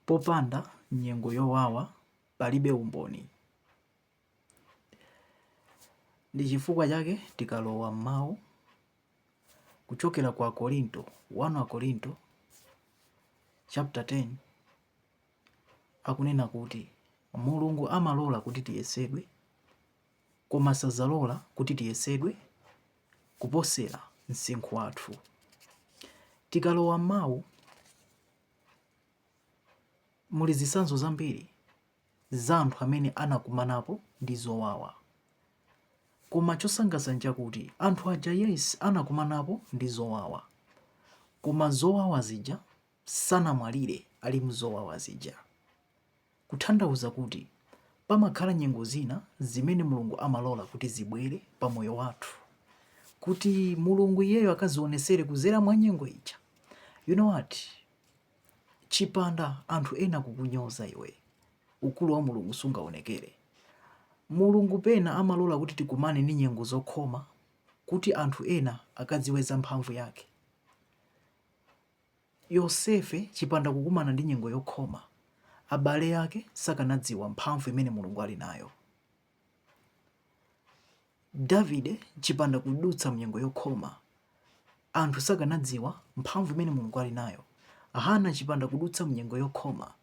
Popanda nyengo yowawa palibe umboni. Ndi chifukwa chake tikalowa m'mawu kuchokera kwa Akorinto, 1 Akorinto chapter 10 akunena kuti Mulungu amalola kuti tiyesedwe Koma sazalola kuti tiyesedwe kuposera msinkhu wathu. Tikalowa m'mawu, muli zitsanzo zambiri za anthu amene anakumanapo ndi zowawa. Koma chosangalatsa n'chakuti anthu aja yes anakumanapo ndi zowawa, koma zowawa zija sanamwalire ali m'zowawa zija. Kuthandauza kuti pamakhala nyengo zina zimene Mulungu amalola kuti zibwere pa moyo wathu kuti Mulungu iyeyo akazionesere kuzera mwa nyengo ija. You know what? Chipanda anthu ena kukunyoza iwe, ukulu wa Mulungu sungaonekere. Mulungu pena amalola kuti tikumane ndi nyengo zokhoma kuti anthu ena akadziwe za mphamvu yake. Yosefe chipanda kukumana ndi nyengo yokhoma, abale ake sakanadziwa mphamvu imene Mulungu ali nayo. Davide chipanda kudutsa mnyengo yokhoma, anthu sakanadziwa mphamvu imene Mulungu ali nayo. Hana chipanda kudutsa mnyengo yokhoma,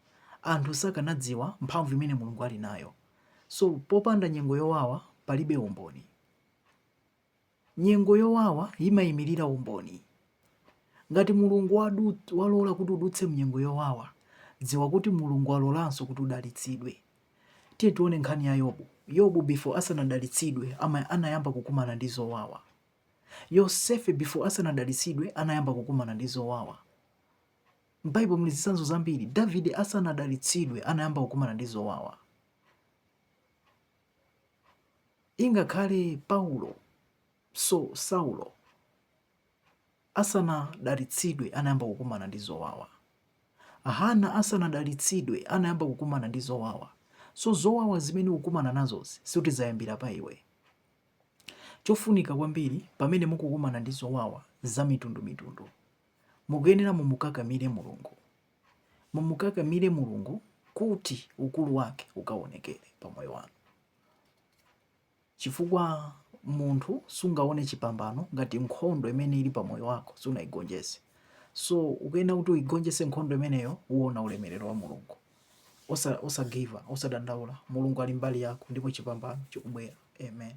anthu sakanadziwa mphamvu imene Mulungu ali nayo. So popanda nyengo yowawa palibe umboni. Nyengo yowawa yimayimirira umboni. Ngati Mulungu walola kuti udutse mnyengo yowawa, dziwa kuti Mulungu alolanso kuti udalitsidwe. Tiye tiwone nkhani ya Yobu. Yobu before asanadalitsidwe ama anayamba kukumana ndi zowawa. Yosefe before asanadalitsidwe anayamba kukumana ndi zowawa. M'Baibulo muli zitsanzo zambiri. Davide asanadalitsidwe anayamba kukumana ndi zowawa. Ingakhale Paulo, so, Saulo asanadalitsidwe anayamba kukumana ndi zowawa. Hana asanadalitsidwe anayamba kukumana ndi zowawa. So zowawa zimene ukukumana nazozi sikuti zayambira pa iwe. Chofunika kwambiri pamene mukukumana ndi zowawa za mitundu mitundu, mukuyenera mumukakamire Mulungu. Mumukakamire Mulungu kuti ukulu wake ukaonekere pa moyo wanu, chifukwa munthu sungaone chipambano ngati nkhondo imene ili pa moyo wako sunaigonjese. So ukuyenera kuti uigonjese nkhondo imeneyo uona ulemerero wa Mulungu. Osagiva, osadandaula. Mulungu ali mbali yako ndipo chipambano chikubwera. Amen.